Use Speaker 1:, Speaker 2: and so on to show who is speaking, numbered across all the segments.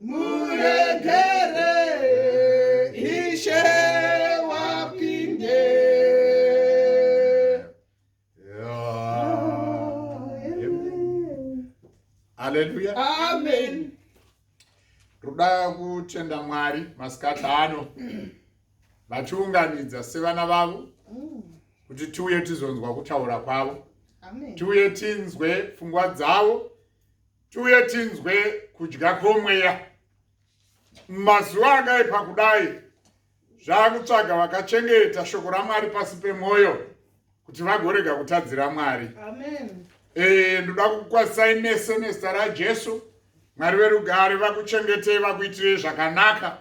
Speaker 1: Muregere ishe wapinde Hallelujah. Amen. Ruda kutenda Mwari masikati ano vatiunganidza sevana vavo mm. kuti tiuye tizonzwa kutaura kwavo tiuye tinzwe pfungwa dzavo tiuye tinzwe kudya kwomweya mumazuva akaipa kudai zvaakutsvaga vakachengeta shoko ramwari pasi pemwoyo kuti vagorega kutadzira mwari ee eh, ndoda kukwasai mese nezita rajesu mwari verugare vakuchengetei vakuitirei zvakanaka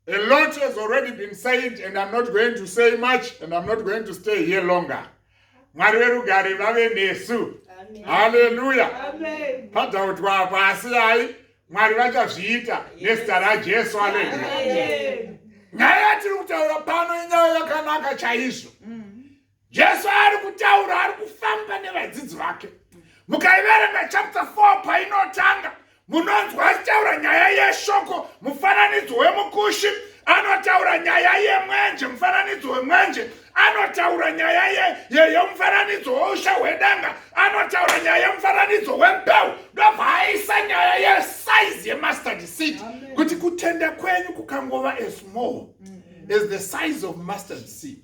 Speaker 1: A lot has already been said and I'm not going to say much and I'm not going to stay here longer. Mwari verugare vave nesu. Hallelujah. Amen. Padautwa apa asi hai Mwari vachazviita nezita raJesu. Hallelujah. Nyaya yatiri kutaura pano inyaya yakanaka chaizvo. Mm. jesu ari kutaura ari kufamba nevadzidzi vake mukaiverenga chapter 4 painotanga munonzwa achitaura nyaya yeshoko mufananidzo wemukushi anotaura nyaya yemwenje mufananidzo wemwenje anotaura nyaya yemufananidzo ye, ye weusha hwedanga anotaura nyaya yemufananidzo wembeu ndobva aisa nyaya yesaizi yemustard seed kuti kutenda kwenyu kukangova asmall mm -hmm. as the size of mustard seed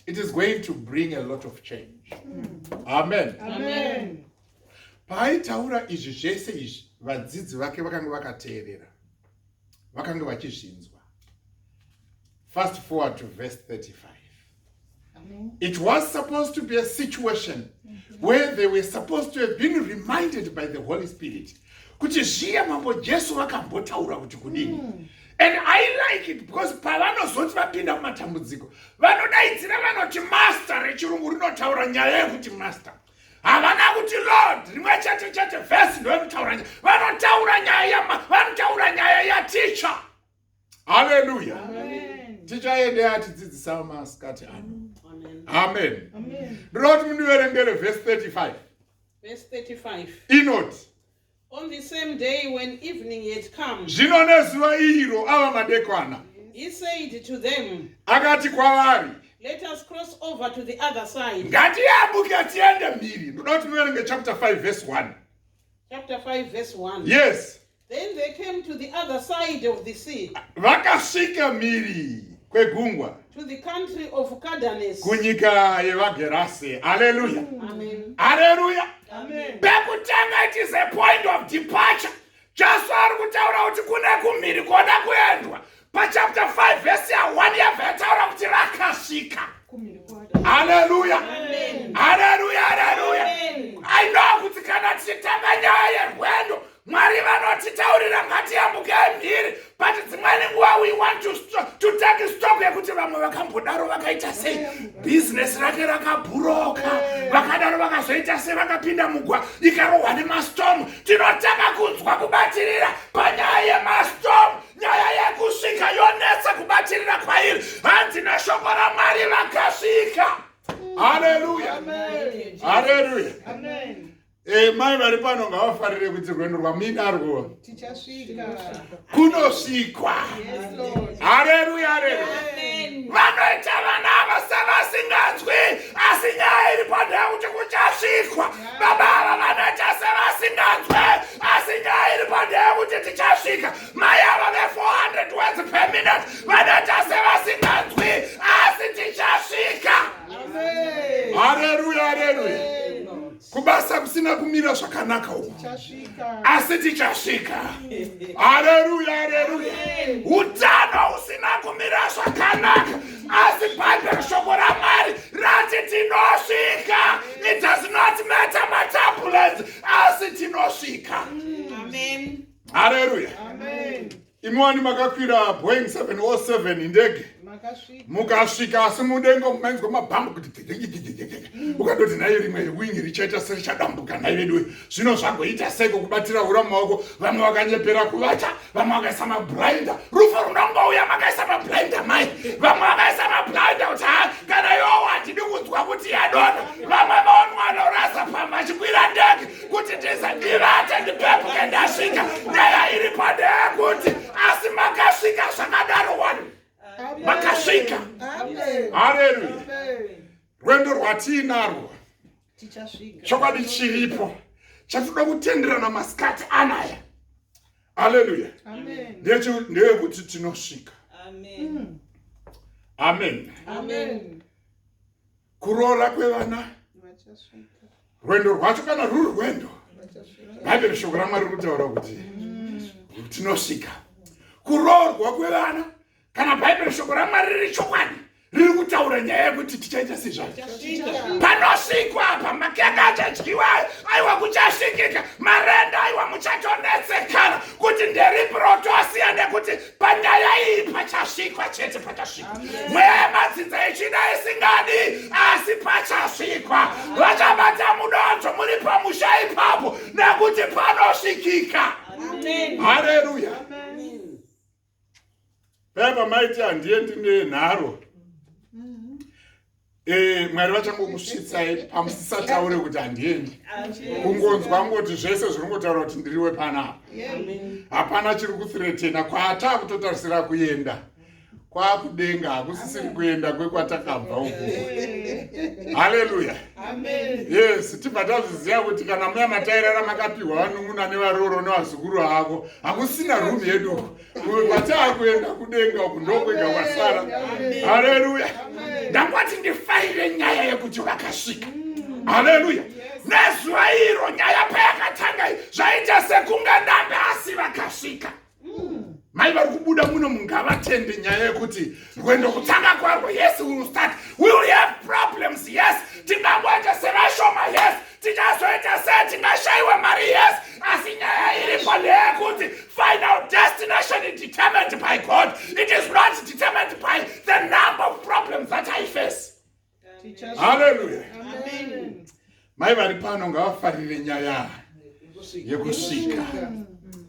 Speaker 1: it is going to bring a lot of change amen, amen. paaitaura izvi zvese izvi vadzidzi vake vakanga vakateerera vakanga vachizvinzwa fast forward to verse 35 amen. it was supposed to be a situation mm -hmm. where they were supposed to have been reminded by the holy spirit kuti zviya mambo jesu vakambotaura kuti kudini mm. and i like it because pavanozoti vapinda mumatambudziko vanodaidzira vanoti master rechirungu rinotaura nyaya yekuti master havana kuti lord rimwe chete chete vhesi ndoyekutaura nyaya vanotaura nyaya yama vanotaura nyaya yaticha haleluya tichaendea tidzidzisa masikati ano amen ndinoti mundiverengere vhesi
Speaker 2: 35 Verse 35. inoti
Speaker 1: On the
Speaker 2: same day when evening had come, zvino nezuva
Speaker 1: iro ava madekwana
Speaker 2: he said to them, akati kwavari
Speaker 1: Let us cross
Speaker 2: over to the other side. ngatiyambuke tiende mhiri ndoda kuti
Speaker 1: muverenge chapter 5 verse 1
Speaker 2: Chapter 5, verse 1. yes Then
Speaker 1: they came
Speaker 2: to the other side of the sea, vakasvika
Speaker 1: mhiri kwegungwa to the country
Speaker 2: of Cadanes. kunyika
Speaker 1: yevagerase haleluya Amen. haleluya Amen.
Speaker 2: pekutanga it is
Speaker 1: a point of departure jesu ari kutaura kuti kune kumhiri kona kuendwa pachapter 5 vhesi ya1 yabva yataura kuti rakasvika haleluya
Speaker 2: haleluya haleluya
Speaker 1: ainova kuti kana
Speaker 2: tichitanga
Speaker 1: nyaya yerwendo mwari vanotitaurira ngatiyambuke mhiri but dzimweni nguva we want to, to take stock yekuti vamwe vakambodaro vakaita sei bhizinesi rake rakabhuroka vakadaro vakazoita sei vakapinda mugwa ikarohwa nemastomu tinotanga kunzwa kubatirira panyaya yemastomu nyaya yekusvika yonetsa kubatirira kwairi hanzi neshoko ramwari vakasvika haleluya haleluya
Speaker 2: eh, mai vari
Speaker 1: pano ngavafarire kuti rwendo rwamuinarwo
Speaker 2: kunosvikwa haleluya haleluya vanoita vana
Speaker 1: ava sevasinganzwi asi nyaya iri pandaya kuti kuchasvikwa baba ava vanoita sevasinganzwe asi nyaya iri pandeye kuti tichasvika mai ava ve400 words per minute vanoita sevasinganzwi asi tichasvika
Speaker 2: hareruya
Speaker 1: hareruya kubasa kusina kumira zvakanaka uku asi tichasvika hareruya hareruya utano usina kumira zvakanaka asi bhaibheri shoko ramwari rati tinosvika it does not matter matambulance asi tinosvika
Speaker 2: hareruya imi wani
Speaker 1: makakwira boeing 707 ndege mukasvika asi mudengo mainzwa mabhambu kuti ukatoti nayo rimwe wing richaita serichadambuka nai veduwe zvino zvagoita seiko kubatira hura mumaoko vamwe vakanyepera kuvata vamwe vakaisa mabrinda rufu runongouya makaisa mabrinda mai vamwe vakaisa mabrinda kuti ha kana yowa tidi kunzwa kuti yadona vamwe vaonwana urasa pamba chikwira ndege kuti tize ndivate ndipepuke ndasvika nyaya iri pande yekuti asi makasvika zvakadaro wani makasvika haleluya rwendo rwatiinarwo chokwadi chiripo chatoda kutenderana masikati anaya haleluya ndeyekuti tinosvika amen, amen. amen. amen. kuroora kwevana rwendo rwacho kana ruri rwendo bhaibheri shoko ramwari rikutaura kuti tinosvika kuroorwa kwevana kana bhaibheri shoko ramwari riri chokwadi riri kutaura nyaya yekuti tichaita sezvai panosvikwa apa makeka achadyiwa aiwa kuchasvikika marenda aiwa muchatonetsekana kuti nderipi rotosiya nekuti panyaya iyi pachasvikwa chete pachasvikwa mweya yemadzinza yechida isingadi asi pachasvikwa vachabata mudonzvo muri pamusha ipapo nekuti panosvikika hareruya paipa maiti handiye ndine nharo Eh, mwari vachangokusvitsai pamusisataure kuti handiendi kungonzwa ngoti zvese zviri ngotaura kuti ndiriwe panapa hapana chiri kuthiretena kwaataa kutotarisira kuenda kwakudenga hakusisiri kuenda kwekwatakabva uku haleluya yes tibva tazviziva kuti kana muya matairara makapiwa vanun'una nevaroro nevazukuru avo hakusina rumi yedu uku uyu kwataakuenda kudenga uku ndokwega kwasara haleluya ndangwati ndifarire nyaya yekuti vakasvika haleluya nezuva iro nyaya payakatanga zvaita sekunga ndambe asi vakasvika mai vari kubuda muno mungavatende nyaya yekuti rwendo kutanga kwarwo yes we will start we will have problems yes tingangoita sevashoma yes tichazoita sei tingashaiwa mari yes asi nyaya iripo ndeyekuti final destination is determined by god it is not determined by the number of problems that i face haleluya
Speaker 2: mai vari
Speaker 1: pano ngavafarire nyaya yekusvika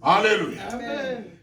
Speaker 1: haleluya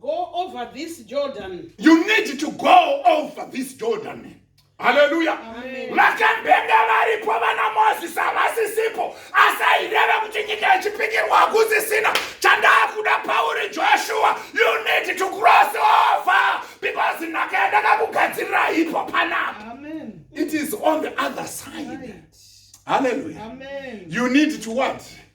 Speaker 2: Go over this Jordan.
Speaker 1: You need to go over this Jordan. Haleluya.
Speaker 2: Vakambenge
Speaker 1: varipo vana Moses havasisipo asi aireva kuti nyika yechipikirwa hakusisina chandaakuda pauri Joshua you need to cross over because nhaka yandakakugadzirira ipo panapa. It is on the other side. Right. Hallelujah. Amen. You need to what?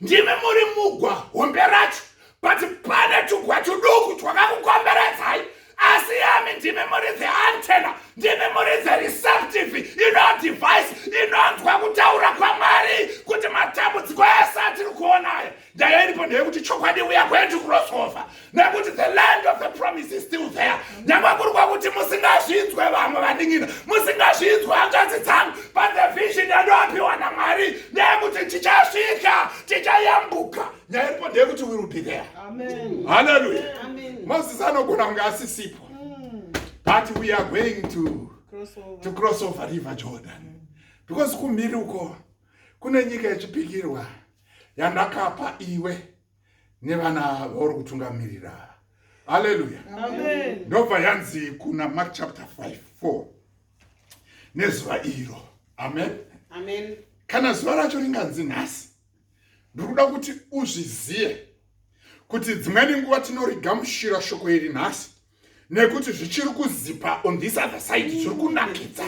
Speaker 1: ndimi muri mugwa hombe racho but pane tugwa tuduku twakakukomberedzai asi yami ndimi muri the antena ndimi muri the receptive ino device inonzwa kutaura kwamwari kuti matambudziko ese atiri kuonayo ndaya iripo ndeyekuti chokwadi uya kwedu kurosova nekuti the land of the promise is still there nyangwe kuri kwakuti musingazvinzwe vamwe vandingina musingazvinzwe hanzvanzi dzangu but the vision yandoapiwa namwari neyekuti tichasvika tichayambuka nyaya iripo ndeyekuti we will be there halleluya moses anogona kunge asisipo mm. but we are going to to cross over river jordan because kumhiri uko kune nyika yechipikirwa yandakapa iwe nevana vauri kutungamirira haleluya ndobva yanzi kuna mark chapter 5 4 nezuva iro amen, amen.
Speaker 2: kana zuva racho
Speaker 1: ringanzi nhasi ndiri kuda kuti uzvizive kuti dzimweni nguva tinorigamushira shoko iri nhasi nekuti zvichiri kuzipa on this other side zviri kunakidza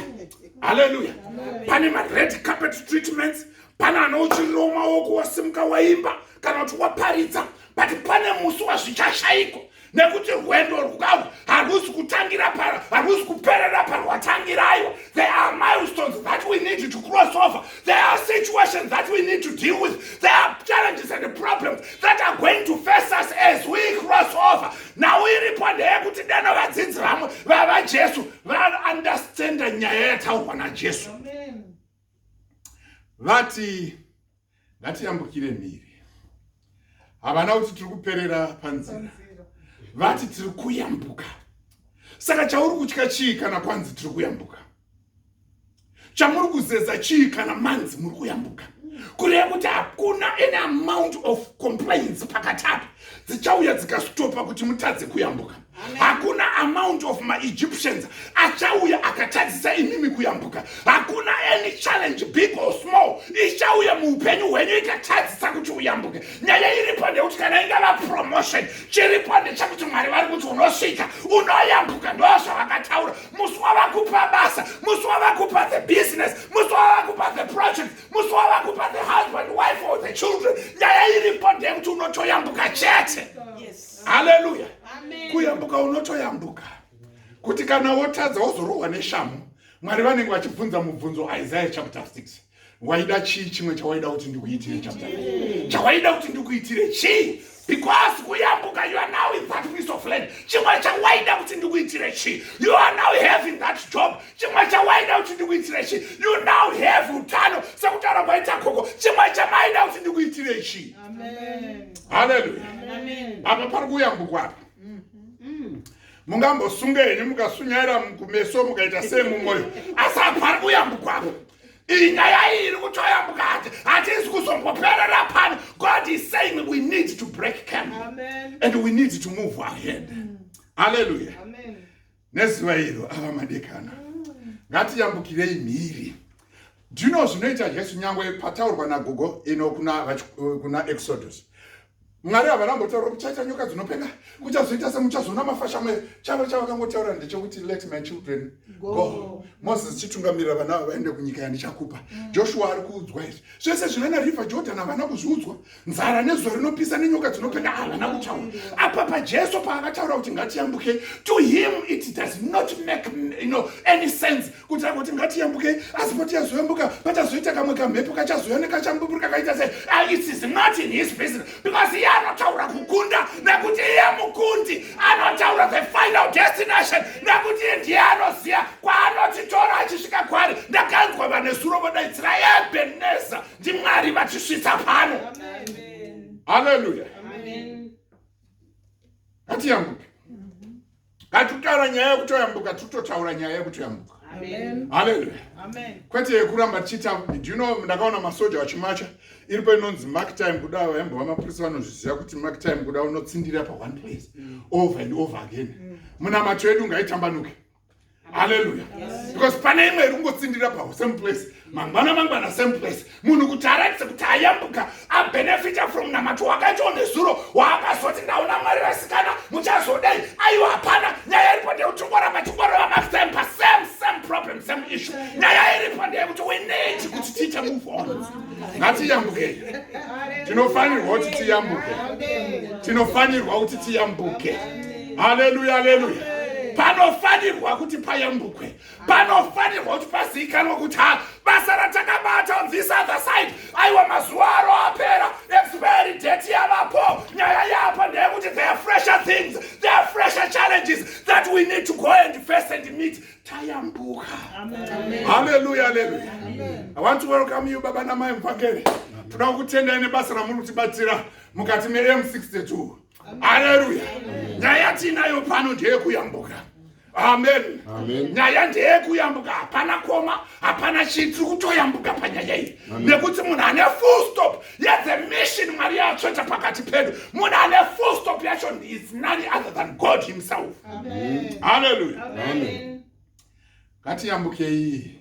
Speaker 1: haleluya pane mared carpet treatments pane anouchirirawo maoko wasimuka waimba kana kuti waparidza but pane musi wazvichashayiko nekuti rwendo rwavo harwusi kutangira paro harwusi kuperera parwatangira aiwa there are milestones that we need to cross over There are situations that we need to deal with. There are challenges and problems that are going to face us as we cross over. Now we report kuti dano vadzidzi vamwe vava Jesu vaunderstand nyaya yataurwa naJesu. Vati ngatiyambukire mhiri. Havana kuti tiri kuperera panzira. Vati tiri kuyambuka. Saka chauri kutya chii kana kwanzi tiri kuyambuka? chamuri kuzeza chii kana manzi muri kuyambuka kureva kuti hakuna any amount of complaints pakati apo dzichauya dzikastopa kuti mutadze kuyambuka hakuna amount of maegyptians achauya akatadzisa imimi kuyambuka hakuna any challenge big or small ichauya muupenyu hwenyu ikatadzisa kuti uyambuke nyaya iripo ndekuti kana ingava promotion chiripo ndechekuti mwari vari kuti unosvika unoyambuka ndozvavakataura musi wavakupa basa musi wavakupa the business musi wavakupa the project musi wavakupa the husband wife or the children nyaya iripo ndeyekuti unotoyambuka chete haleluya kuyambuka unotoyambuka kuti kana wotadza wozorohwa neshamu mwari vanenge vachibvunza mubvunzo isaya chapter 6 waida chii chimwe chawaida kuti ndikuitire chapta chawaida kuti ndikuitire chii because kuyambuka you are now in that piece of land chimwe chawaida kuti ndikuitire chii you are now having that job chimwe chawaida kuti ndikuitire chii you now have utano sekutaura kwaita koko chimwe chamaida kuti ndikuitire chii haleluya apa pari kuyambukwa apa mungambosunga henyu mukasunyaira kumeso mukaita sei mumwoyo asi apa pari kuyambukwa apa iyi nyaya iyi iri kutoya mukati hatizi kuzomboperera pano god is saying we need to break camp and we need to move ahead mm. haleluya nezuva iro ava madekana mm. ngatiyambukirei mhiri do you know zvinoita jesu nyangwe pataurwa nagogo ino kuna, kuna exodus mwari havana mbotaura kuchaita nyoka dzinopenga kuchazoita semuchazoona mafasha mwe chavo chavakangotaura ndechekuti let my children go moses chitungamirira vana ava vaende kunyika yandichakupa mm. joshua ari kuudzwa izvi zvese zvinana river jordan havana kuzviudzwa nzara nezuva rinopisa nenyoka dzinopenga havana kutaura apa pajesu paakataura kuti ngatiyambuke to him it does not make you know, any sense kuti angoti ngatiyambukei asi potiyazoyambuka pachazoita kamwe kamhepo kachazouya nekachambuburi kakaita se ah, it is not in his business because iye anotaura kukunda nekuti iye mukundi anotaura the final destination nekuti iye ndiye anoziva kwaanotitora achisvika kwari ndakanzwa vanesuro vodaidzira ebeneza ndimwari vatisvitsa pano haleluya atiyambuke Ngatitora nyaya yekutoyambuka titotaura nyaya yekutoyambuka. Amen. Hallelujah.
Speaker 2: Amen.
Speaker 1: Kwete
Speaker 2: yekuramba tichiita
Speaker 1: do you know ndakaona masoja vachimacha iripo inonzi mark time kuda vaimbova mapurisa vanozviziva kuti mark time kuda unotsindira pa one place mm. over and over again. Mm. Munamato yedu ngaitambanuke. haleluya because pane imwe iri kungotsindira pawo same place mangwana mangwana same place munhu kuti aratidze kuti ayambuka abenefita from namato wakaitwa nezuro waakazoti ndaona mwari vasikana muchazodei aiwa hapana nyaya iripo ndeyekuti ungoramba chingorova masame pa same same problem same issue nyaya iripo ndeyekuti we need kuti tiite move on ngatiyambukei tinofanirwa kuti tiyambuke tinofanirwa kuti tiyambuke haleluya haleluya panofanirwa kuti payambukwe panofanirwa kuti pazivikanwa kuti ha basa ratakabata on this other side aiwa mazuva aro apera expiry date yavapo nyaya yapo ndeyekuti there are fresher things there are fresher challenges that we need to go and face and meet tayambuka haleluya haleluya i want to welcome you baba namai mvangeri toda kukutendai nebasa ramuri kutibatsira mukati mem62 haleluya nyaya tiinayo pano ndeyekuyambuka amen nyaya ndeyekuyambuka hapana koma hapana chii tiri kutoyambuka panyaya iyi nekuti munhu ane full stop yethe mission mwari yatsveta pakati pedu munhu ane full stop yacho is none other than god himself haleluya ngatiyambukei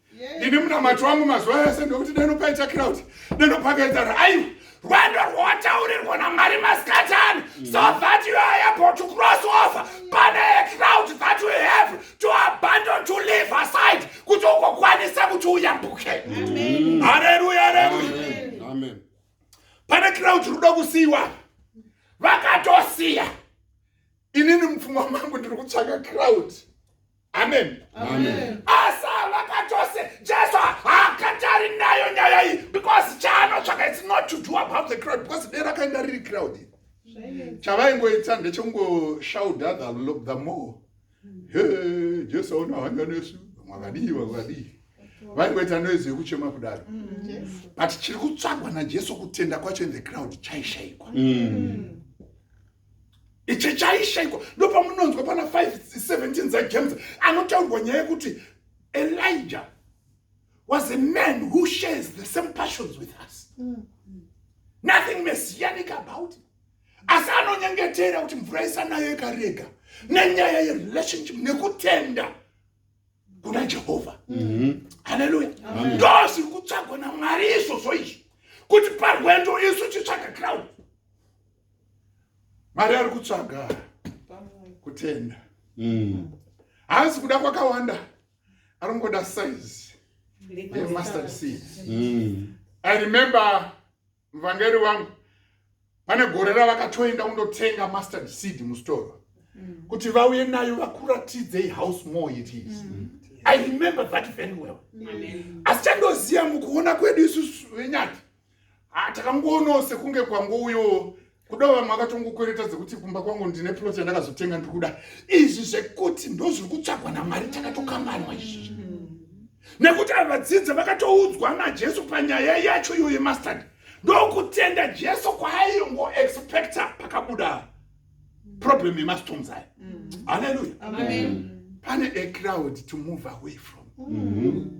Speaker 1: ini munamato wangu mazuva ese ndokuti deno paita crowd deno pakaita raiwa rwendo rwowataurirwa namwari masikati ani so mm. that you are able to cross over pane crowd that you have to abandon to leave aside kuti ugokwanisa kuti uyambuke hareruya hareruya pane crowd ruda kusiyiwa vakatosiya inini mupfungwa mangu ndiri kutsvaka crowd amen asi hava kachose jesu haakatari nayo nyaya iyi because chaanotsvaka its not to do about the crowd because dera akaenda riri crowd chavaingoita ndechekungoshaudha the more he jesu aona hanya nesu vakadii vakadii vaingoita noise yekuchema kudaro mm. but chiri kutsvagwa najesu kutenda kwacho in the crowd chaishaikwa mm. ichi chaishaiko ndopamunonzwa pana 517 dzajames anotaurwa nyaya yekuti elijah was a man who shares the same passions with us mm. nothing messianic about it asi anonyengetera kuti mvura isanayo ikarega nenyaya yerelationship nekutenda kuna jehovha mhm. haleluya ndo zviri kutsvagwa namwari izvozvo izvi kuti parwendo isu titsvaga crowd mwari ari kutsvaga kutenda mm. haasi kuda kwakawanda aringoda size yemustard seed mm. i remember muvhangeri wangu pane gore ravakatoenda kundotenga mustard seed mustoro mm. kuti vauye nayo vakuratidzei house more it is mm. i remember that very well asi chandoziva mukuona kwedu isusu venyati Ah, takangoonawo sekunge kwangouyo kuda vamwe vakatongokwereta dzekuti kumba kwangu ndine plot yandakazotenga ndiri kuda izvi zvekuti ndozviri kutsvagwa namwari takatokambanwa izvi nekuti ava vadzidza vakatoudzwa najesu panyaya yacho iyoyo yemastad ndokutenda jesu kwaaingo expecta pakabuda problem yemastones aya haleluya pane a crowd to move away from mm -hmm.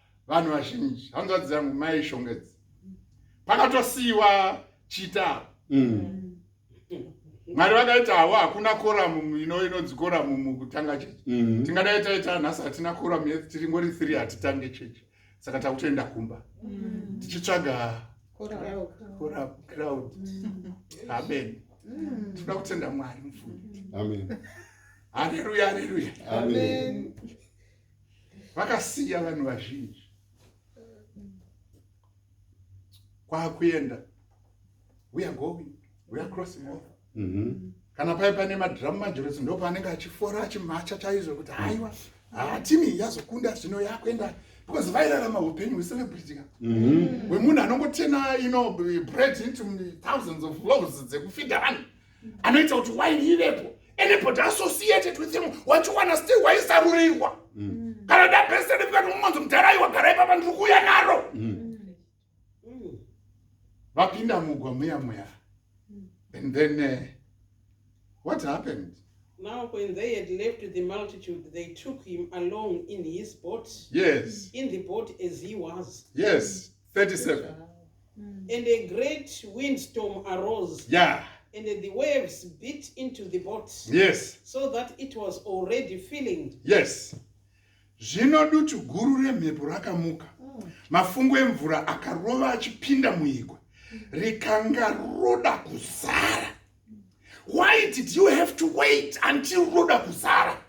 Speaker 1: vanhu vazhinji hanzvadzi dzangu mai shongedzi pakatosiyiwa chita mm. mwari vakaita hawo hakuna koramu ino inonzi koramu mukutanga chechi mm. tingadai taita nhasi hatina koramu yet tiri ngori three hatitange chechi saka takutoenda kumba mm. tichitsvaga crowd amen tinoda kutenda mwari mufuni amen
Speaker 3: haleluya
Speaker 1: haleluya amen
Speaker 3: vakasiya
Speaker 1: vanhu vazhinji kwakuenda we are going we are crossing over mm -hmm. kana paye pane madhiramu majoresi ndo paanenge achifora achimacha chaizvo kuti haiwa haa timi yazokunda zvino yakuenda because vairarama upenyu hwecelebrity ka mhm. hwemunhu anongotena ino bread into thousands of loves dzekufida vanhu anoita kuti waini ivepo anybody associated with him wachiwana still waisarurirwa mm. kana dabesede kukati mumonzi mudhara aiwa garai papa ndiri kuuya naro mm. vapinda mugwa muya muya mm. and then uh, what happened Now, when
Speaker 2: they had left the multitude, they took him along in his boat. Yes. In the
Speaker 1: boat as
Speaker 2: he was. Yes. 37
Speaker 1: and
Speaker 2: a great windstorm arose yeah and
Speaker 1: the waves
Speaker 2: beat into the boat yes so that
Speaker 1: it was
Speaker 2: already filling yes
Speaker 1: zvino dutu guru remhepo rakamuka mm. mafungu emvura akarova achipinda muigwa mm. rikanga roda kuzara why did you have to wait until roda kuzara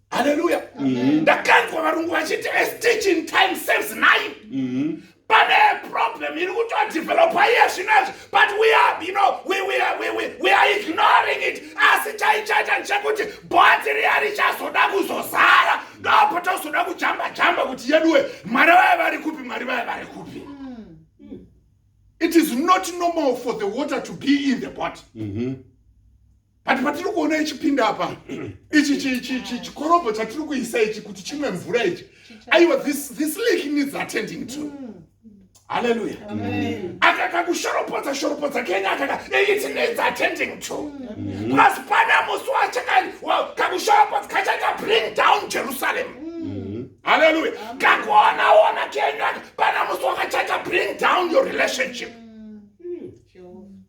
Speaker 1: haleluya mm-hmm. ndakanzwa varungu vachiti esteaching time saves nine mm-hmm. pane problem iri kutodevelopa iye zvinazvi but we are you know we, we, are, we, we, we are ignoring it asi chaichaita ndechekuti bhoti riya richazoda kuzozara ndopo tozoda kujamba jamba kuti yeduwe mwari vaye vari kupi mwari vaye vari kupi mm. it is not normal for the water to be in the bot mm -hmm. but patiri kuona ichipinda apa ichi chikorobho chatiri kuisa ichi kuti chimwe mvura ichi aiwa this lake needs attending to mm. haleluya mm. akakakushoropodza shoropodza kenya akaka it needs attending to mm. plus pana musi wachakani kakushoropodza kachaita bring down jerusalem haleluya kakuonaona kenya pana musi wakachaita bring down your relationship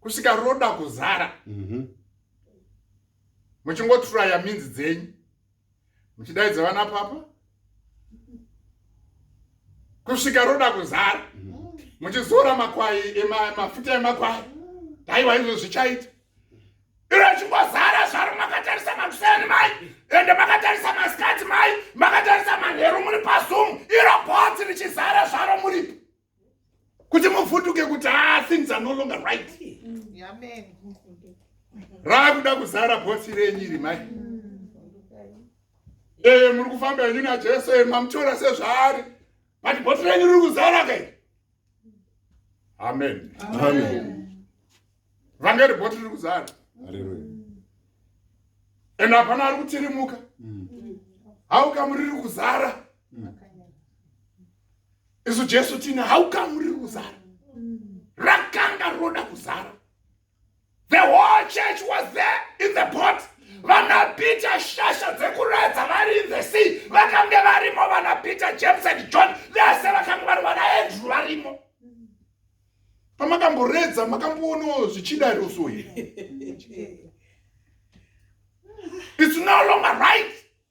Speaker 1: kusvika roda kuzara mhm. muchingoturaya mm -hmm. minzi dzenyu muchidaidza vana papa kusvika roda kuzara mhm. muchizora makwai mafuta emakwai daiwa izvo zvichaita iro chingozara zvaro makatarisa makuseni mai ende makatarisa masikati mai makatarisa manheru muri pazoom iro botsi richizara zvaro muripo kuti mufutuke kuti ah, things are no longer right raakuda kuzara bhosi renyu iri mai ee muri kufamba henyu najesu e mamutora sezvaari but bhosi renyu riri kuzara kai amen
Speaker 3: vanga
Speaker 1: ri bhosi riri kuzara and hapana ari kutirimuka mm. haukamuriri kuzara isu jesu tine how come riri kuzara rakanga roda kuzara the whole church was there in the boat vanapita shasha dzekuredza vari in the sea vakange varimo vanapita james and john vese vakange vari vanaendru varimo pamakamboredza makamboonawo zvichida roso here it's no longer right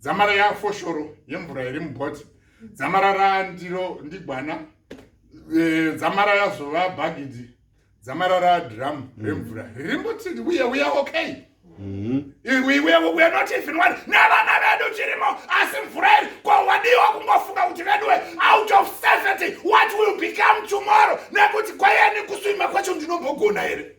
Speaker 1: dzamara yafoshoro yemvura iri mubhoti dzamara randiro ndigwana e, dzamara yazova bhagidhi dzamara radhiramu mm. remvura riri mbuti uye uya okay mm-hmm. we're not even one nevana vedu tirimo asi mvura iri ko wadiwa kungofunga kuti veduwe out of safety what will become tomorrow nekuti kwayani kuswima kwacho ndinombogona here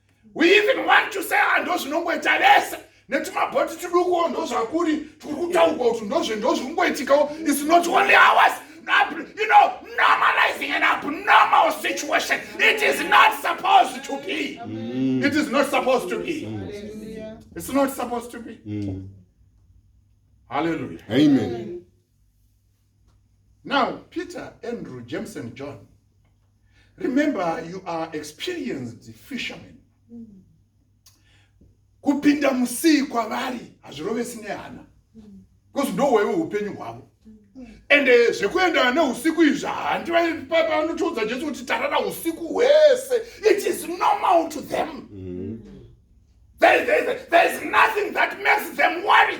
Speaker 1: we even want to say ah, ndozvinongoita vese netumabhoti tudukuwo ndozvakuri turi kutaurwa kuti ndozve ndozvikungoitikawo is not only ours you know normalizing an abnormal situation it is not supposed to be mm. it is not supposed to be it's not supposed to be mm. hallelujah amen, amen. Now, Peter, Andrew, James, and John, remember you are experienced fishermen. kupinda musii kwavari hazvirovesi nehana because ndohwewe upenyu hwavo ende eh, zvekuenda neusiku izvi handi vanotiudza jesu kuti tarara usiku hwese it is normal to them mm. there, there, there is nothing that makes them worry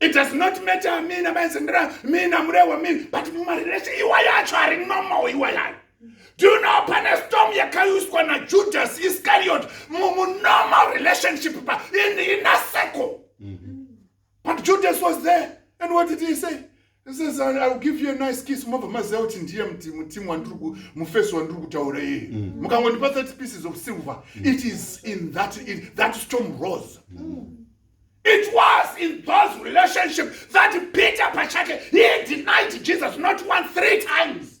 Speaker 1: It does not matter mina maizendera mina murehwa mina but mumarelation iwa yacho ari normal iwa yayo do you know pane storm yakauswa najudas iscariot munormal relationship pa in, in a circle mm -hmm. but judas was there and what did he say Says, I, I'll give you a nice kiss mobva maziva kuti ndiye mutimu wandiri mufesi wandiri kutaura iye mm. mukangondipa 30 pieces of silver mm. it is in that, in that storm rose mm. it was in those relationship that peter pachake he denied jesus not one three times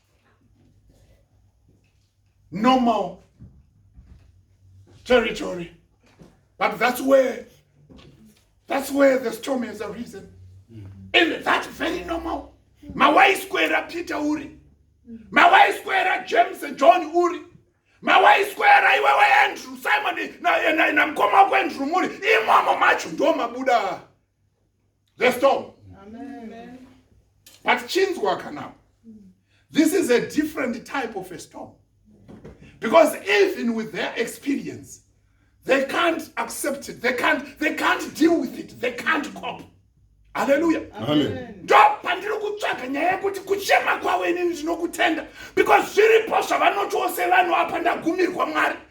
Speaker 1: normal territory. But that's where that's where the storm has arisen. Mm -hmm. And that's very normal. Mawaiswera Peter Uri. Mawaiswera James and John Uri. Mawaiswera iwewe Andrew Simon na na, na mkoma wako Andrew Muri. Imomo macho ndo mabuda. the storm Amen.
Speaker 2: but
Speaker 1: chinzwa kana this is a different type of a storm because even with their experience they can't accept it they can't, they can't deal with it they can't cope haleluya ndo
Speaker 3: pandiri
Speaker 1: kutsvaga nyaya yekuti kuchema kwavo inini ndinokutenda because zviripo zvavanoti ose vanhu apa ndagumirwa mwari mm.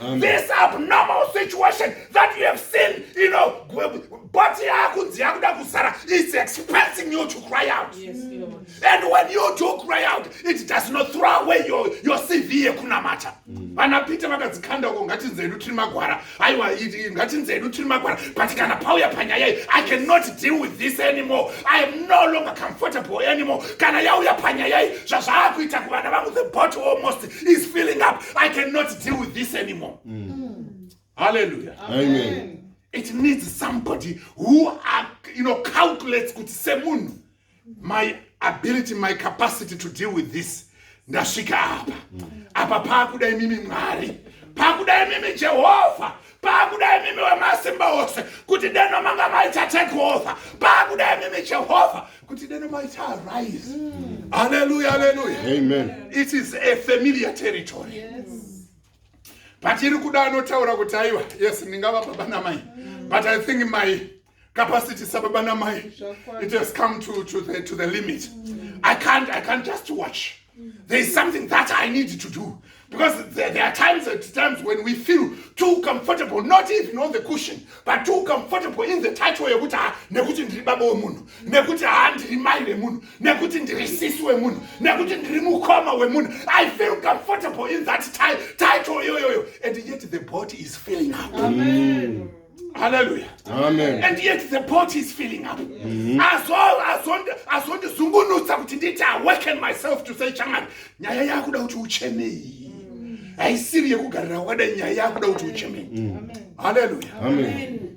Speaker 1: Amen. This
Speaker 3: abnormal
Speaker 1: situation that you have seen, you know, but it's expressing you to cry out. Yes, Lord. And
Speaker 2: when you do
Speaker 1: cry out, it does not throw away your, your CV yekunamata. Mm. Vana Peter vakadzikanda uko ngatinze hedu tiri magwara. Aiwa ngatinze hedu tiri magwara. But kana pauya panyaya iyi, I cannot deal with this anymore. I am no longer comfortable anymore. Kana yauya panyaya iyi, zvazvaakuita kuvana vangu the bottle almost is filling up i cannot deal with this anymore mm. Mm. hallelujah Amen. Amen.
Speaker 3: it needs
Speaker 1: somebody who are, you know, calculates kuti semunhu my ability my capacity to deal with this ndasvika apa apa paakuda imimi mwari paakuda imimi jehovha paakuda imimi wemasimba ose kuti deno manga maita take over paakuda imimi jehovha kuti deno maita arise mm. aleluya aleluya amen it is
Speaker 3: a
Speaker 1: familiar territory yes. but iri kuda anotaura kuti aiwa yes ndingava baba namai mm. but i think my capacity sababa namai it has come to, to, the, to the limit mm. i can't i can't just watch there is something that i need to do because there, there are times at times when we feel too comfortable not even on the cushion but too comfortable in the title yekuti ha ah, nekuti ndiri baba wemunhu nekuti ha ah, ndiri mai vemunhu nekuti ndiri sisi wemunhu nekuti ndiri mukoma wemunhu i feel comfortable in that title iyoyoyo and yet the body is feeling up Amen.
Speaker 3: Hallelujah.
Speaker 1: Amen. And
Speaker 4: yet the pot
Speaker 1: is filling up. Mm-hmm. Azondizungunutsa kuti nditi awaken myself to say chaman nyaya yakuda kuti uchenei. Haisiri yekugarira wakada nyaya yakuda kuti uchenei. Mm. Hallelujah. Amen. Amen.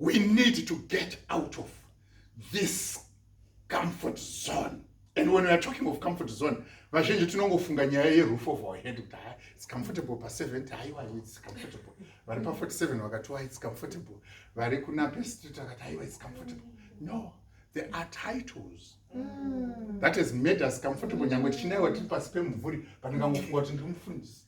Speaker 1: we need to get out of this comfort zone and when weare talking of comfort zone vazhinji tinongofunga nyaya yeroof of our head kuti ha its comfortable pa70 haiwa its comfortable vari pa47 vakatiwa its comfortable vari kunape street vakati haiwa its comfortable no there are titles mm. that has made us comfortable nyange tichinaiwa tiri pasi pemumvuri but ngangofunga kuti ndiri mufundisi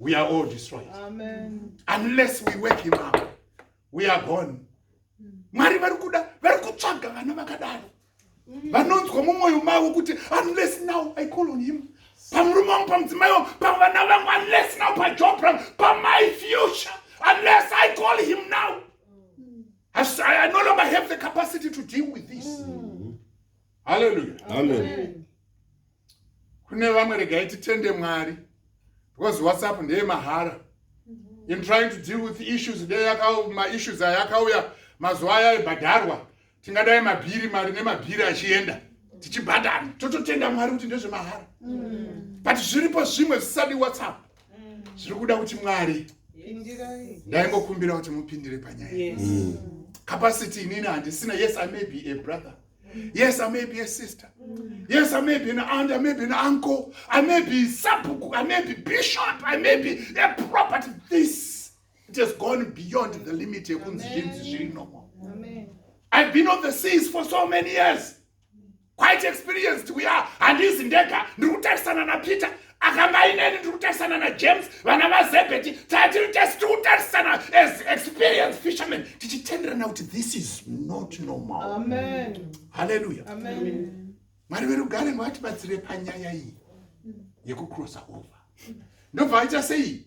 Speaker 1: we are all destroyed Amen.
Speaker 3: unless we wake
Speaker 1: him up we are gone mwari vari kuda vari kutsvaga vana vakadaro vanonzwa mumwoyo mavo kuti unless now i call on him pamurume wangu pamudzimai wangu pavana vangu unless now pajob rangu pamai future unless i call him now I, I no longer have the capacity to deal with this mm. hallelujah Amen. Amen. kune vamwe regai titende mwari because whatsapp ndeye mahara mm-hmm. in trying to deal with issues maissues aya akauya mazuva aya aibhadharwa tingadai mabhiri mari nemabhiri achienda tichibhadhara tototenda mwari kuti ndezvemahara mm-hmm. but zviripo zvimwe zvisadi whatsapp mm-hmm. zviri kuda kuti mwari ndaingokumbira kuti mupindire panyaya capacity inini handisina yes i may be a brother Yes, I may be a sister. Yes, I may be an aunt, I may be an uncle, I may be sapuku, I may be bishop, I may be a property. This it has gone beyond the limit yekunzi zvinzi zviri normal. I've been on the seas for so many years. Quite experienced we are. Handizi ndega, ndiri kutarisana naPeter. akamba ineni tiri kutarisana najames vana vazebheti tatiri tesi tiri kutarisana as experience fisherman tichitenderana kuti this is not normal
Speaker 3: halleluya mwari verugare
Speaker 1: ngavatibatsire panyaya iyi yekucrossa over ndobva vaita sei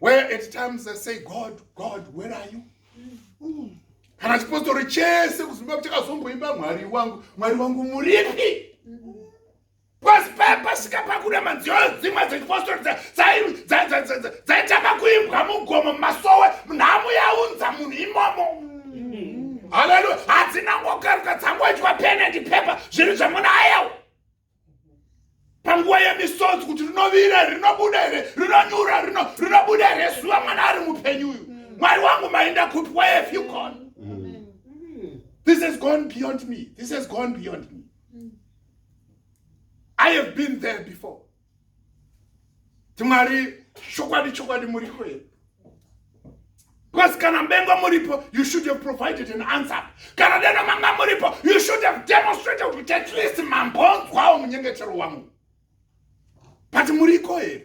Speaker 1: where at times i say god god where are you kana chipostori chese kuzimba kuchakazomboimba mwari wangu mwari wangu muripi pasi pepasika pakuda manziyo dzimwe dzechipostori dzaitanga kuimbwa mugomo mumasowe nhamu yaunza munhu imomo haleluya hadzina ngokaruka dzangoitwa penendi pepa zvinhu zvamuna ayawo panguva yemisodzi kuti rinovira here rinobuda here rinonyura rinobuda here zuva mwana ari mupenyu uyu mwari wangu mainda kupi wayefyugon this has gone beyond me this has gone beyond me i have been there before Mwari chokwadi chokwadi muriko here? Because kana bengo muripo, you should have provided an answer. Kana deno manga muripo, you should have demonstrated kuti at least mambonzwawo munyengetero wangu. But muriko here?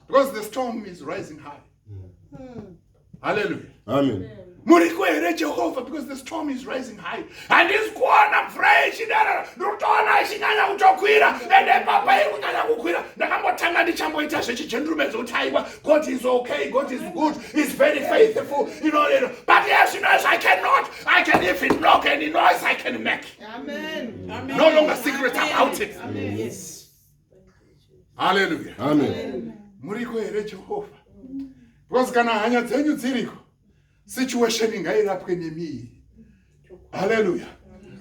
Speaker 1: Because the storm is rising high. Mm. haleluya amen muriko
Speaker 4: here
Speaker 1: jehovha because the storm is rising high handisi kuona mvura yechidara ndotoona ichinyanya kutokwira ende papa iri kunyanya kukwira ndakambotanga ndichamboita zvechijendurume dzokuti aiwa god is okay god is good is very faithful inoino but yes you know as i cannot i can even knock any noise i can make Amen. Amen.
Speaker 2: no longer secret about
Speaker 1: it Amen. Yes. haleluya amen
Speaker 4: muriko here
Speaker 1: jehovha because kana hanya dzenyu dziriko situation ingairapwe nemiiri haleluya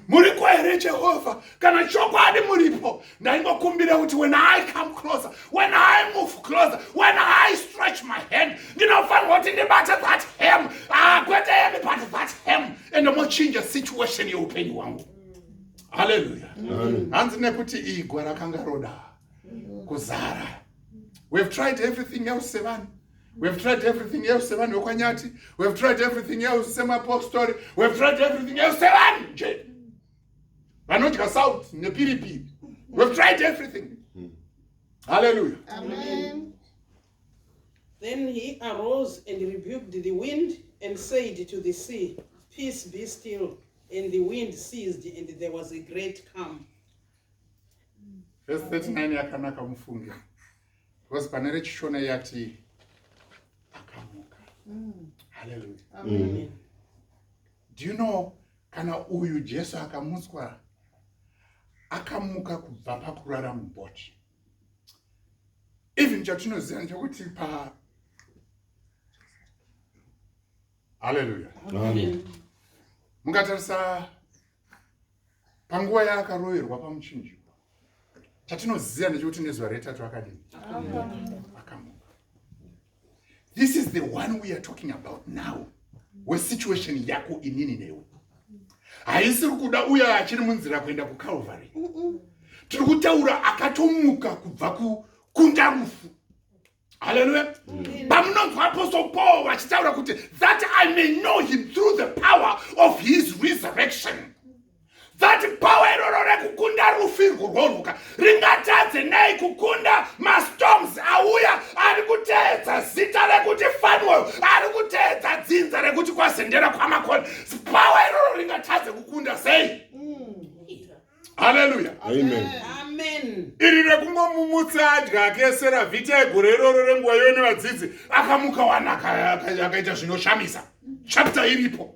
Speaker 1: muriko here jehovha kana chokwadi muripo ndaingokumbira kuti when i come closer when i move closer when i stretch my hand ndinofanirwa kuti ndibate that hem ah, kwete yemi but that hem and mochinja situation yeupenyu hwangu haleluya hanzi nekuti igwa rakanga roda kuzara we have tried everything else sevanhu we have tried everything else sevanhu vekwanyati we have tried everything else semapostori we have tried everything else sevanhu nje vanodya south nepiripiri we have tried everything haleluya
Speaker 2: Then he arose and rebuked the wind and said to the sea, Peace be still. And the wind ceased, and there was a great calm. Verse
Speaker 1: 39 yakanaka mufunge because pane rechishona yati akamuka mm. haleluya mm. do you know kana uyu jesu akamutswa akamuka kubva pakurara muboti even chatinoziva ndechekuti pa haleluya
Speaker 4: mungatarisa
Speaker 1: panguva yaakaroverwa pamuchinjikwa chatinoziva ndechekuti nezuva retatu akadini akamuka This is the one we are talking about now. We situation yako inini newe. Haisiri kuda uya achiri munzira kuenda ku Calvary. Tiri kutaura akatomuka kubva ku kunda rufu. Hallelujah. Mm. Pamunonzwa apostle Paul vachitaura kuti that I may know him through the power of his resurrection. that power iroro rekukunda rufirwo rwonhuka ringatadze nei kukunda mastorms auya ari kuteedza zita rekuti fanwell ari kuteedza dzinza rekuti kwazendera kwamakoni power iroro ringatadze kukunda sei haleluya iri
Speaker 2: rekungomumutsa
Speaker 1: adya akesera vhita egore iroro renguva iyo nevadzidzi akamuka wana akaita zvinoshamisa chapta iripo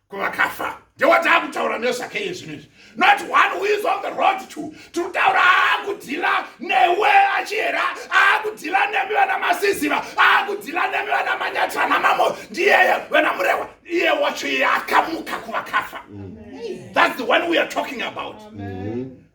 Speaker 1: kuvakafa ndewataakutaura nezvake iye zvino izvi not one who is on the road to tiri kutaura aakudhila newe achihera aakudhila nemi vana masiziva aakudhila nemi vana manyatira namamo ndiyeye vana murewa iye wacho iye akamuka kuvakafa that's the one we are talking about mm -hmm.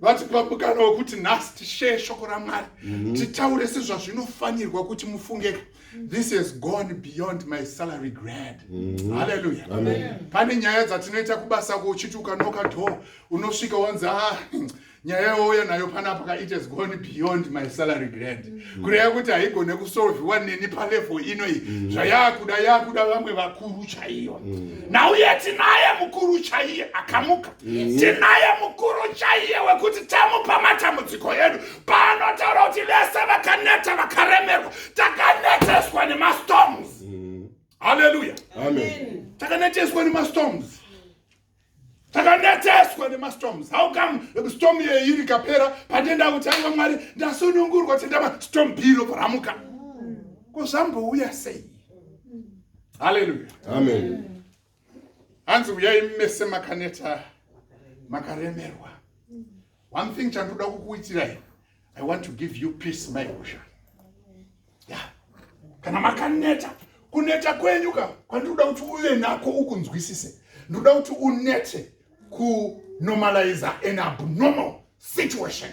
Speaker 1: vati pamukana wekuti nhasi tisheye shoko ramwari mhm. titaure sezvazvinofanirwa kuti mufungeka this has gone beyond my salary grad mhm. halleluya pane
Speaker 4: nyaya dzatinoita
Speaker 1: kubasa ko uchiti ukanoka door unosvika wanzi a ah, nyaya yauya nayo panapa ka it has gone beyond my salary grad mm. kureva kuti haigone kusolviwa neni palevo ino iyi mm. zvayakuda yakuda vamwe vakuru chaiyo mm. nauye tinaye mukuru chaiye akamuka tinaye mukuru chaiye wekuti tamupa matambudziko edu paanotaura kuti vese vakaneta vakaremerwa takaneteswa nemastorms haleluya
Speaker 4: takaneteswa
Speaker 1: nemastorms takanetseswa nemastorms how come storm iye iri kapera patenda kuti aiwa mwari ndasunungurwa tenda mastorm biro paramuka ko zvambouya sei haleluya amen hanzi uyai mese makaneta makaremerwa one thing chandoda kukuitirai i want to give you peace mai husha yeah. kana makaneta kuneta kwenyu ka kwandinoda kuti uve nako ukunzwisise ndoda kuti unete kunormalize an abnormal situation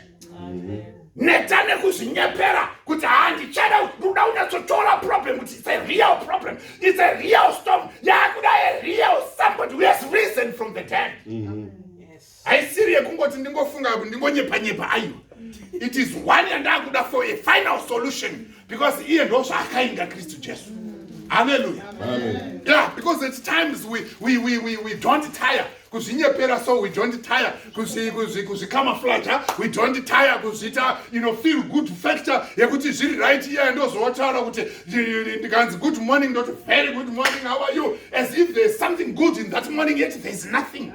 Speaker 1: neta nekuzvinyepera kuti handichada ndoda unyatsotora problem kuti it's a real problem it's a real storm yakuda a real somebody who has risen from the dead mm -hmm. haisiri yekungoti ndingofunga kuti ndingonyepa nyepa aiwa it is one yandakuda for a final solution because iye ndo zvaakainga kristu jesu haleluya ya
Speaker 4: because at
Speaker 1: times we, we, we, we, we don't tire kuzvinyepera so we don't tire kuzvikamaflaja we don't tire kuzviita you know feel good factor yekuti zviri right iye ndozotaura kuti ndikanzi good morning ndoti very good morning how are you as if there's something good in that morning yet there's nothing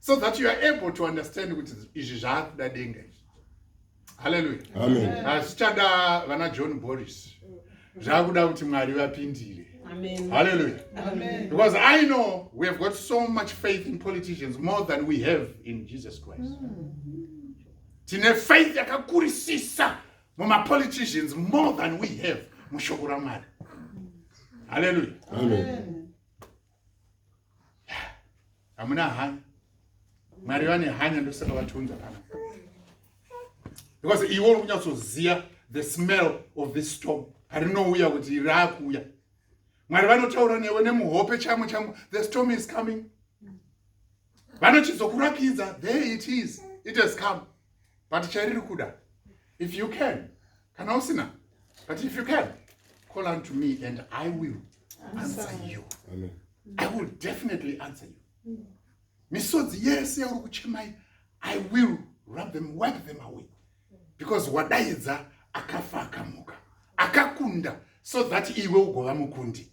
Speaker 1: so that you are able to understand kuti izvi zvaakuda denga izvi haleluya
Speaker 4: hazvichada vana
Speaker 1: john boris zvakuda kuti mwari vapindire haleluya because
Speaker 3: i know
Speaker 1: we have got so much faith in politicians more than we have in jesus christ mm. tine faith yakakurisisa mumapoliticians more than we have mushoko ramwari haleluya hamuna hanya mwari vane hanya ndosaka vatiunza kana because iwe uri kunyatsoziva the smell of this storm parinouya kuti raakuuya mwari vanotaura newe nemuhope chamo chamo the storm is coming vanochizokurakidza there it is it has come but chairiri kuda if you can kana usina but if you can call unto me and i will answer you Amen. i
Speaker 4: will
Speaker 1: definitely answer you misodzi yese yauri kuchemai i will rub them wipe them away because wadaidza akafa akamuka akakunda so that iwe ugova mukundi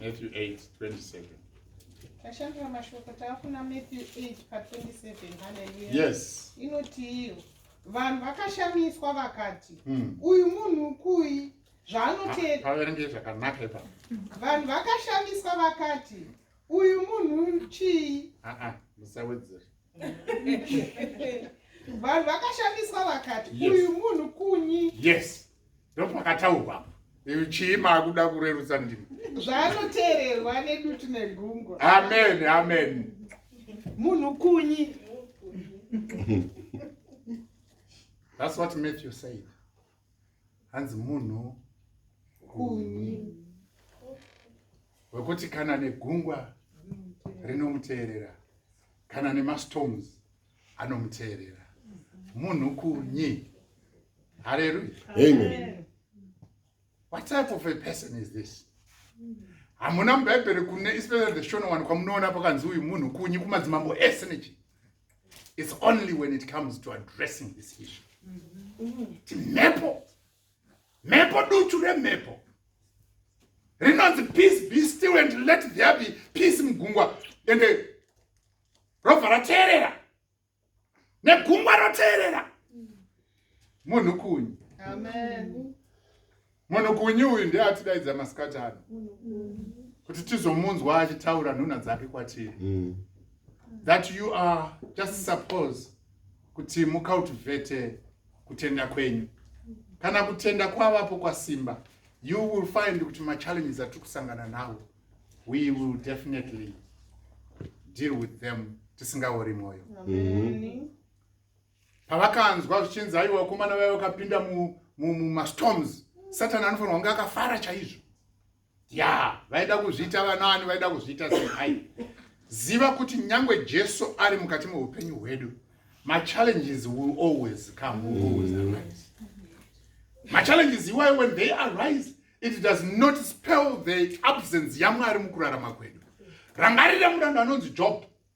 Speaker 1: Matthew 8, 27.
Speaker 3: Tashandira mashoko taakuna Matthew 8 pa 27. Hallelujah. Yes.
Speaker 1: Inotiiyo.
Speaker 3: Vanhu vakashamiswa vakati, hmm. uyu munhu kuyi zvaanoteera. Paverenge zvakanaka
Speaker 1: ipa. Vanhu
Speaker 3: vakashamiswa vakati, uyu munhu chii? Ah ah, musawedzere. vanhu vakashamiswa vakati uyu munhu
Speaker 1: kunyi
Speaker 3: yes
Speaker 1: ndopakataurwa apo chii maakuda kurerutsa ndimi zvaanoteererwa
Speaker 3: nedutu negungwa amen amen
Speaker 1: munhu
Speaker 3: kunyi
Speaker 1: that's what matthew said hanzi munhu kunyi wekuti kana negungwa rinomuteerera kana nemastorms anomuteerera munhu kunyi haleluya amen what type of a person is this hamuna mubhaibheri kune especially the shona wani kwamunoona pakanzi uyu munhu kunyi kumadzimambo ese nechi It's only when it comes to addressing this issue. Ti mhepo. Mhepo duchu remhepo. Rinonzi peace be still and let there be peace mugungwa. And eh, robva rateerera. Negungwa roteerera. Munhu kunyi. Amen. Munhukunyu uyu ndiye atidaidza masikati ano kuti tizomunzwa achitaura nhuna dzake kwatiri mm. that you are just suppose kuti mucultivate kutenda kwenyu kana kutenda kwavapo kwasimba you will find kuti machallenges atiri kusangana nawo we will definitely deal with them tisingaori mwoyo mm -hmm. pavakanzwa zvichinzi aiwa vakomana vaiva vakapinda mumastorms satani anofanirwa kunge akafara chaizvo ya vaida kuzviita vanaani vaida kuzviita sei ziva kuti nyange jesu ari mukati meupenyu hwedu machallenges will always come will always arise machallenges iwayo when they arise it does not spell the absence yamwari mukurarama kwedu rangarira muranda anonzi job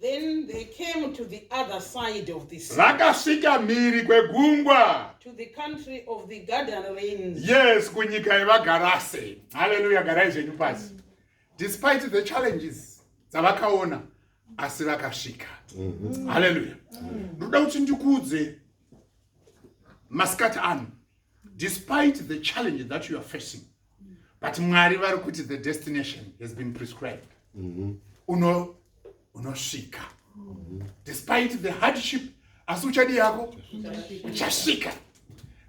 Speaker 1: Then
Speaker 2: they came to the other side of the sea. Vakasvika mhiri
Speaker 1: kwegungwa. To the country
Speaker 2: of the Gadarenes. Yes, kunyika
Speaker 1: yevaGarase. Hallelujah, garai zvenyu pasi. Despite the challenges dzavakaona asi vakasvika. Mm-hmm. Hallelujah. Ndoda kuti ndikuudze masikati ano despite the challenge that you are facing but mwari vari kuti the destination has been prescribed mhm. uno unosvika mhm. despite the hardship asi uchadi yako uchasvika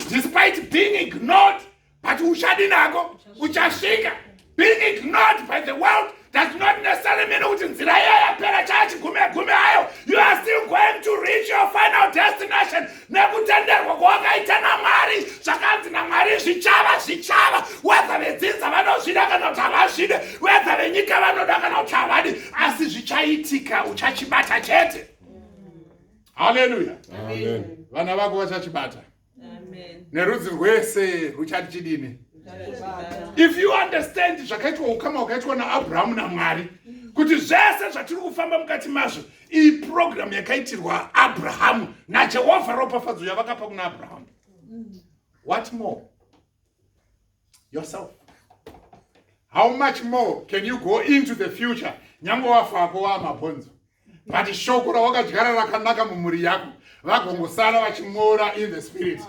Speaker 1: despite being ignored but uchadi nako uchasvika being ignored by the world does not necessarily mean kuti nzira iyo yapera chaya chigume gume ayo you are still going to reach your final destination nekutenderwa kwawakaita namwari zvakanzi namwari zvichava zvichava wedza vedzinza vanozvida kana kuti havazvide wedza venyika vanoda kana kuti havadi asi zvichaitika uchachibata chete haleluya
Speaker 4: vana vako vachachibata
Speaker 2: nerudzi rwese
Speaker 1: ruchati chidini if you understand zvakaitwa ukama wakaitwa naabrahamu namwari kuti zvese zvatiri kufamba mukati mazvo iyi purogiramu yakaitirwa abrahamu najehovha ropafadzo yavakapa kuna abrahamu what more yourself how much more can you go into the future nyange wafa ako waamabhonzo but shoko rawakadyara rakanaka mumhuri yako vagongosara vachimora in the spirit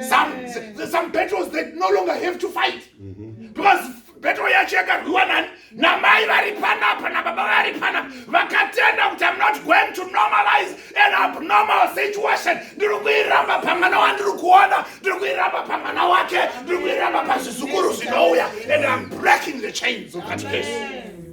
Speaker 1: some, some battles that no longer have to fight mm -hmm. because battle yacho yakarwiwa nani namai vari panapa nababa vari panapa vakatenda kuti am not going to normalize an abnormal situation ndiri kuiramba pamwana wandiri kuona ndiri kuiramba pamwana wake ndiri kuiramba pazvizukuru zvinouya and am breaking the chains of that case Amen.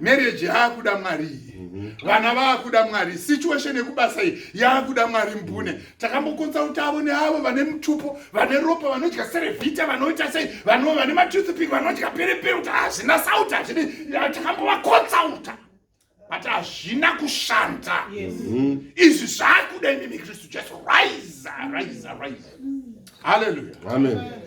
Speaker 1: marriage yaakuda mwari iyi mhm. vana vaakuda mwari situation yekubasa iyi yaakuda mwari mbune mhm. takambokonsulta avo neavo vane mutupo vane ropa vanodya serevita vanoita sei vanova vane matoothpick vanodya perepere kuti hazvina sauti hazvidi takambovakonsulta but hazvina kushanda mhm. izvi zvaakuda imi mikristu jesu rise rise rise haleluya amen, amen.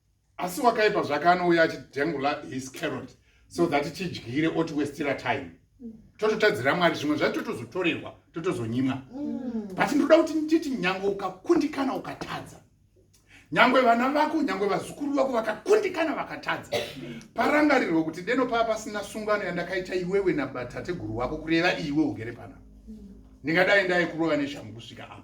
Speaker 1: asi wakaipa zvake anouya achidengula his carrot so that tidyire otiwestira time tototadzira mwari zvimwe zvacho totozotorerwa totozonyimwa mm. but ndoda kuti nditi nyange ukakundikana ukatadza nyange vana vako nyange vazukuru vako vakakundikana vakatadza parangarirwe kuti deno paa pasina sungano yandakaita iwewe nabatateguru wako kureva iwe ugere panapa ndingadai ndaikurova neshamhu kusvika apo